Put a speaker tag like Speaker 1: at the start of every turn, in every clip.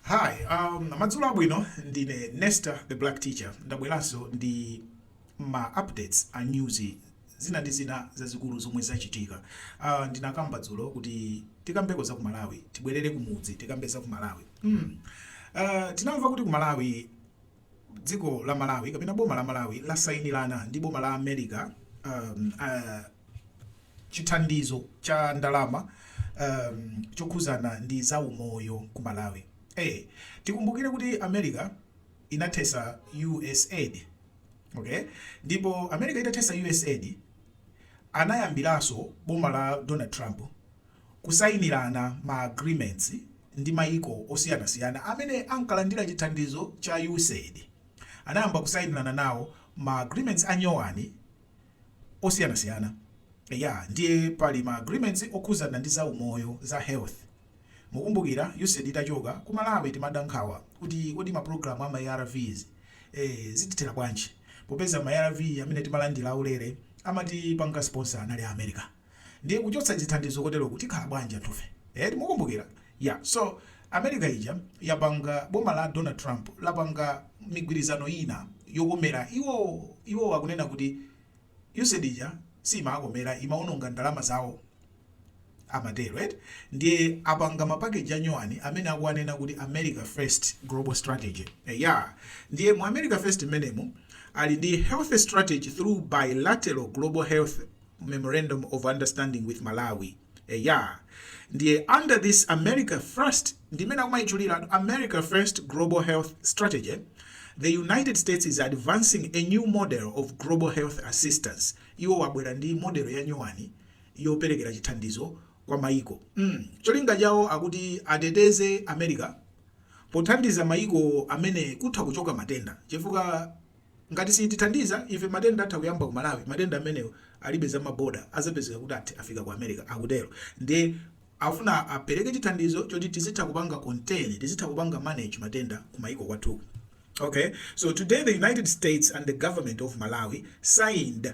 Speaker 1: Hi, um, madzulo abwino ndine Nesta the Black Teacher ndabweranso ndi ma updates a news zina ndi zina zazikulu zomwe zachitika. Uh, ndinakamba dzulo kuti tikambeko za ku Malawi, tibwerere kumudzi tikambe za ku Malawi. Mm. Uh, tinamva kuti ku Malawi dziko la malawi kapena boma la malawi lasayinirana ndi boma la america um, uh, chithandizo cha ndalama um, chokhuzana ndi za umoyo ku malawi eh, tikumbukire kuti america inathesa usaid okay ndipo america itathesa usaid anayambiranso boma la donald trump kusayinirana ma agreements ndi mayiko osiyanasiyana amene ankalandira chithandizo cha Usaid. Anayamba kusayinirana nawo ma agreements a nyowani osiyanasiyana. Eya, ndiye pali ma agreements okhudzana ndi za umoyo, za health. Mukumbukira Usaid itachoka, ku Malawi timadandaula nkhawa kuti kodi ma program a ma ARVs eh, zitithera bwanji? Popeza ma arv amene timalandira aulere amatipanga sponsor anali a America. Ndiye kuchotsa chithandizo koteroku tikhala bwanji anthufe eti mukumbukira ya so America ija yapanga boma la Donald Trump lapanga migwirizano ina yokomera iwowo iwowo akunena kuti Usaid ija siimaakomera imaononga ndalama zawo amatero eti ndiye apanga mapakeji anyowani amene akuwanena kuti America first global strategy eya ndiye mu America first mmenemu ali ndi health strategy through bilateral global health memorandum of understanding with malawi eya ndiye under this america first ndimene akumayitchulira america first global health strategy the united states is advancing a new model of global health assistance iwowa abwera ndi modelo ya nyowani yoperekera chithandizo kwa mayiko mm. cholinga chawo akuti ateteze america pothandiza mayiko amene kutha kuchoka matenda chifukwa Ngati satithandiza ife matenda atha kuyamba ku Malawi, matenda amenewo alibe za ma boda azapezeka kuti athi afika ku America, akutero. Ndiye akufuna apereke chithandizo choti tizitha kupanga contain, tizitha kupanga manage matenda ku maiko kwathuku. Okay, so today the United States and the Government of Malawi signed.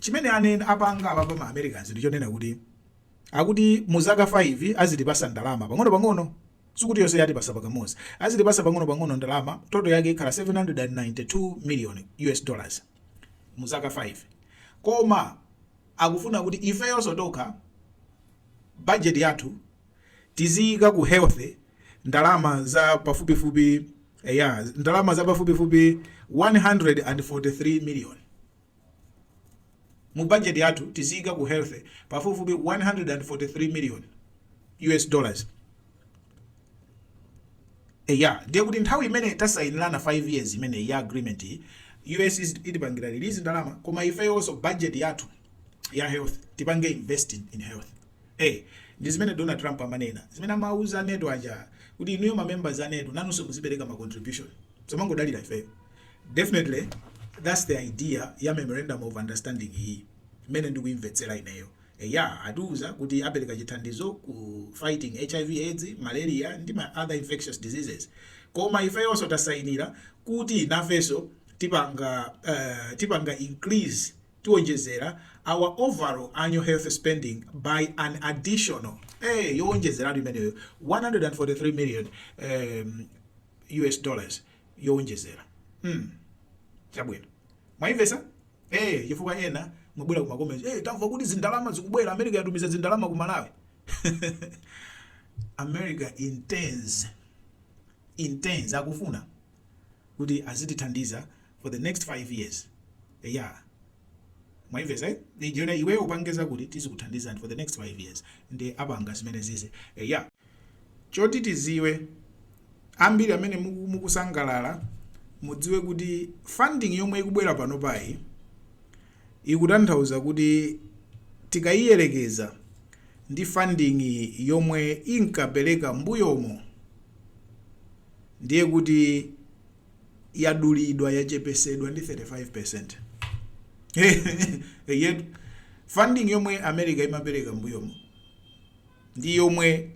Speaker 1: Chimene anen apanga awawa ma Americans ndichonena kuti akuti muzaka 5 azitipasa ndalama pang'ono pang'ono sikuti yose yatipasa pakamozi azitipasa pang'ono pang'ono ndalama total yake ikhala 792 million us dollars muzaka 5 koma akufuna kuti ifeyoso tokha budget yathu tiziyika ku health ndalama za pafupifupi eya ndalama za pafupifupi 143 million. Mu budget yathu tiziyika ku health pafupifupi 143 million US dollars. Eya, ndiye kuti nthawi imene tasayinirana 5 years imeneyi ya agreement iyi, US itipangira release ndalama koma ifeyonso budget yathu ya health tipange invest in, in health. Eh, ndi zimene Donald Trump amanena, zimene amawuza anetu aja kuti inuyo ma members anetu nanunso muzipereka ma contribution. Musamangodalira ifeyo. Definitely that's the idea ya memorandum of understanding iyi mmene ndikuimvetsera ineyo. Eya atiuza kuti apereka chithandizo ku fighting hiv aids, malaria ndi ma other infectious diseases koma ifeyonso tasainira kuti nafenso tipanga uh, tipanga increase tiwonjezera our overall annual health spending by an additional eh yowonjezeratu imeneyo 143 million um, US dollars yowonjezera. mm chabwino mwaimvesa ee chifukwa ena mwabwera kumakomenti ee tamva kuti zindalama zikubwera america yatumiza zindalama ku malawi america intends intends akufuna kuti azitithandiza for the next 5 years yeah mwaimvesa eh? iweyo upangeza kuti tizikuthandizani for the next 5 years nde apanga zimene zizi yeah Choti tiziwe, ambiri amene mukusangalala mudziwe kuti funding yomwe ikubwera panopayi ikutanthauza kuti tikaiyelekeza ndi funding yomwe inkapereka mbuyomo ndiye kuti yadulidwa yachepesedwa ndi 35%. Eyetu funding yomwe America imapereka mbuyomo. ndi yomwe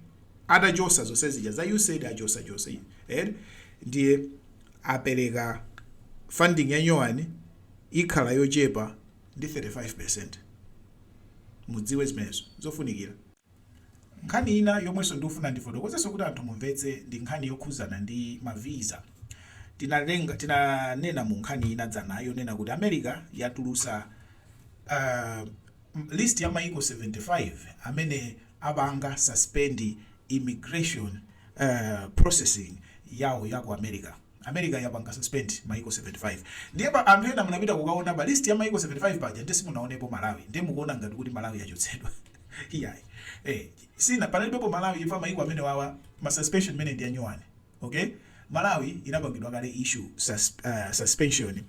Speaker 1: atachosa zonse zija za usaid achosa chose eti ndiye apereka funding ya nyowani ikhala yochepa ndi 35 percent mudziwe zimenezo zofunikira nkhani ina yomwenso ndikufuna ndifotokozenso kuti anthu mumvetse ndi nkhani yokhuzana ndi ma visa tinanena mu nkhani ina dzana yonena kuti america yatulusa uh, list ya maiko 75 amene apanga suspend immigration processing yawo ya ku America. America yapanga suspend maiko 75 ndiye anthu ena munapita kukaona pa list ya maiko 75 paja ndiye simunaonepo Malawi ndiye mukuona ngati kuti Malawi yachotsedwa iyayi eh sina panalibepo Malawi chifukwa maiko amenewawa ma suspension amenewa ndi anyowani. ok malawi inapangidwa kale issue sus suspension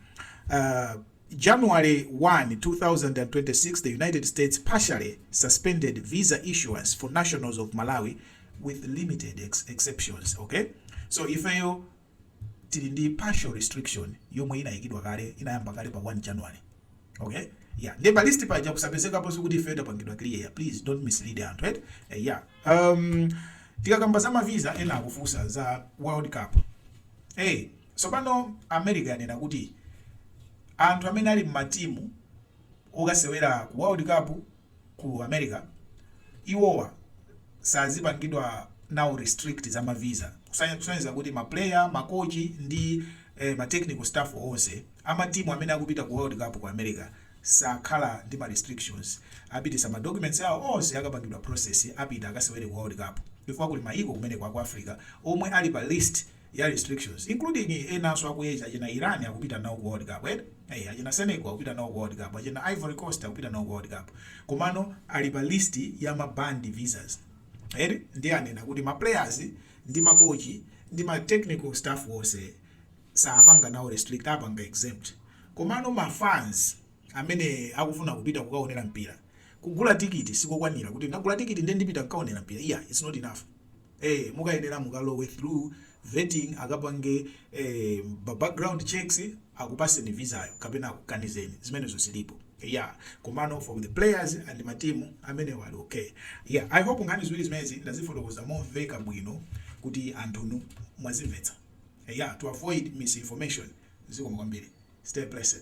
Speaker 1: uh, January 1, 2026, the United States partially suspended visa issuance for nationals of Malawi with limited ex exceptions. Okay, so ifeyo tili ndi partial restriction yomwe inayikidwa kale inayamba kale pa 1 January okay yeah nde pa list paja kusapezekapo sikuti ifeyo tapangidwa clear please don't mislead anthu et eh, yeah um, tikakamba za mavisa ena akufunsa za world cup hey tsopano america yanena kuti anthu amene ali m'matimu okasewera ku world cup ku America iwowa sadzipangidwa nawo restrict za ma visa kusonyeza kuti ma player, ma coach ndi ma technical staff onse ama team amene akupita ku world cup ku America sakhala ndi ma restrictions apititsa ma documents awo onse akapangidwa process apita akasewere ku world cup chifukwa kuli mayiko kumeneko aku Africa omwe ali pa list ya restrictions including enanso aku Asia achina Iran akupita nawo ku world cup eti ee achina Senegal akupita nawo ku world cup achina Ivory coast akupita nawo ku world cup komano ali pa list ya ma banned visas eti ndiye anena kuti ma players ndi ma coach ndi ma technical staff wonse sawapanga nawo restrict apanga exempt komano ma fans amene akufuna kupita kukaonera mpira kugula tikiti sikokwanira kuti ndagula tikiti ndiye ndipita kukaonera mpira iyayi it's not enough. ee mukayenera mukalowe through vetting akapange eem ma background checks akupatseni vizayo kapena akukanizeni zimenezo zilipo yaa komano for the players and ma team amenewo ali okay yaa i hope nkhani ziwiri zimenezi ndazifotokoza zomveka bwino kuti anthunu mwazimvetsa yaa to avoid misinformation zikomo kwambiri stay blessed